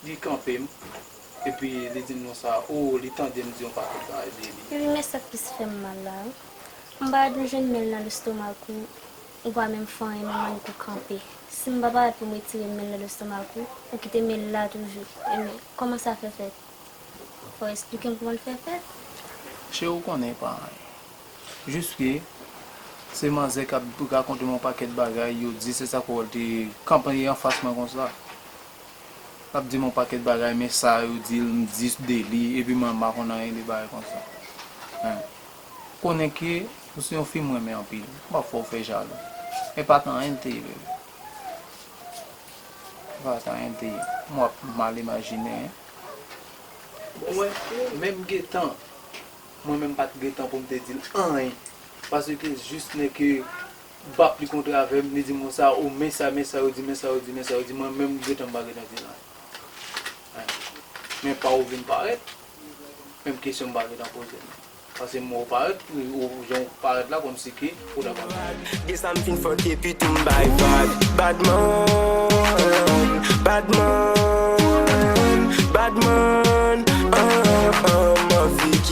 Li kanpe m, epi li di m konsa, o, li tande m di yon pakèt bagay de li. Wi, men sa k plis fè m mal la, m pa dwe jwenn men l nan lestomak ou, ou pa menm fanyen men mannik ou kanpe. Si m pa parèt pou m retire men l nan lestomak ou, ou kite men l la toujou. Enben, kòman sa fè fèt? Fò w esplike m kòman l fè fèt. Cheri, ou konnen, pa anyen. Jis ke se manzè k ap rakonte m yon pakèt bagay, yo di se sa k wè l te kanpe anfas mwen konsa. Lap dim yon pakèt bagay men sa yo dil m di de li epi mwen m pa konn anyen de bagay konsa men konnen ke ou se yon fi m renmen anpil m pap fè w fè jalou e pat anyen l te ye bebe e pat anyen l te ye m wap mal imajine hein. Bon mwen menm gentan mwen menm pat gentan pou m te dil anyen paske jis nèke M pap li kontra avèm li di mo sa oh men sa men sa yo di men sa yo di men sa yo di mwen menm m gentan m pa gentan di nan anh men pa ou vin parèt menm kesyon m pa gentan poze nan pase mo ou parèt ou jan ou parèt la kòm si ke ou ta pral fè li. Gen sa m fin fòk epi tou m bay vag bad man bad man bad man anh anh m anvi.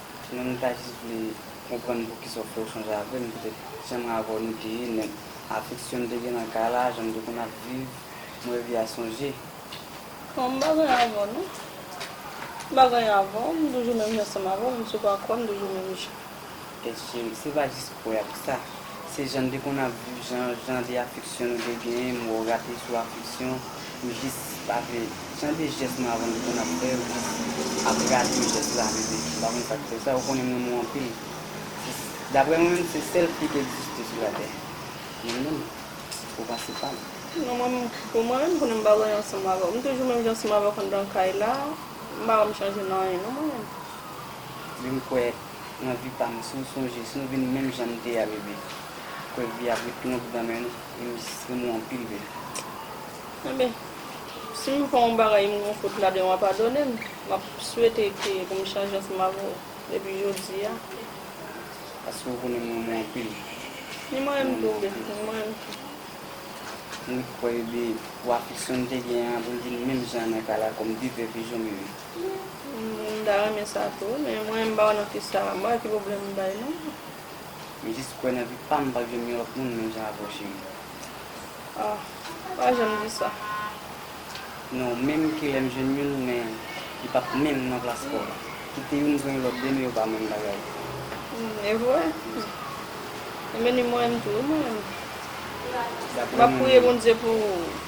Ti nèg mwen ta jis vle konprann poukisa ou fè echanj avè m petèt janm mwen avè w nou te ye nèg afeksyon n te gen nan kay la jan n te konn ap viv mwen revi a sonje. Non m pa gen anyen avè w non m pa gen anyen avè w m toujou menm jan sanm avè w m sou pa kwè m toujou menm jan. Tèt cheri se pa jis kwè a ki sa se jan n te konn ap viv jan jan de afeksyon nou te genyen m wè w rate sou afeksyon. Pou jistis pa vle chanje jès nou avan li konn ap fè yo jis ap rate jès la men li pa konn sak fè sa ou konnen m renmen w anpil daprè mwen menm se sèl fi ki egziste sou latè mwen menm ou pase pam. Non mwen menm pou mwen menm konnen m pa voye ansanm avè w m toujou menm jan ansanm avè w anndan kay la m pa wè m chanje nan anyen non mwen menm. Vin kwè nan vi pam si w sonje si nou vin menm jan n te a bebe kwè vi a ap ret lonb nan men nou. Msnti mwen anpil byen. Enben si m fè yon bagay m gen yon fot ladan wa padone m m ap swete ke pou m chanje ansanm avè w depi jodi a. Paske ou konnen m renmen w anpil. Ni mwen renmen tou byen ni mwen renmen tou. M ret kwè byen pou afeksyon n te gen an pou l vin menm jan an nan kay la kòm de vèv e janm yo ye. M ta renmen sa tou wi men mwen m pa wè nan fi sa m pa wè ki pwoblèm m bay non. M jis kwè nan vi pam m pap janm gen lòt moun menm jan avèw cheri. Aww pa janm di sa. Non menm kilè m jwenn youn men li pap menm nan plas paw la. Kite youn jwenn lòt demen yo pa menm bagay. Humm evre Humm. Ebyen li mwen menm tou wi mwen menm. Map priye Bondye pou ou.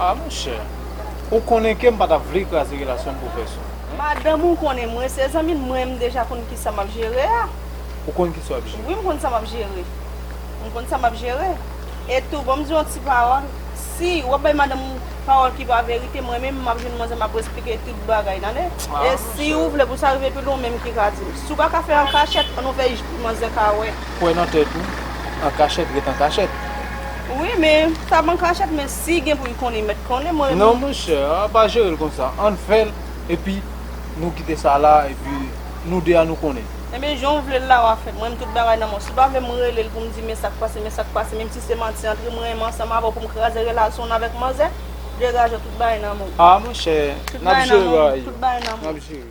Ah monchè, ou konnen kem pa tap vle kraze relasyonm pou pèsonn. Madanm ou konnen mwen se zanmi l mwen m deja konn kisa map jere a. Ou konn kisa wap jere. Wi m konn sa map jere. M konn sa map jere. E tou banm diw yon ti pawòl, si wap bay madanm ou pawòl ki pa verite mwen menm map jwenn manzè map esplike tout bagay tande. E siw vle pou sa rive pi lwen ou menm ki ka dim. Si w paka fè an kachèt an nou fè manzè ka wè. Kwè nan tèt ou, an kachèt ret an kachèt. Wi men sa ban kachèt men si gen poul konnen met konnen mwen. Non monchè an pa jerel konsa ann fèl epi nou kite sa la epi nou 2 an nou konnen. Ebyen jan w vle l la wa fè m renmn tout bagay nan menw si w pa vle m rele l pou m di men sak pase men sak pase menm si se manti antre m renmen ansanm avè w pou m kraze relasyon w avèk manzè degaje w tout bagay nan menw. Ah monchè nap jere bagay yo nap jere.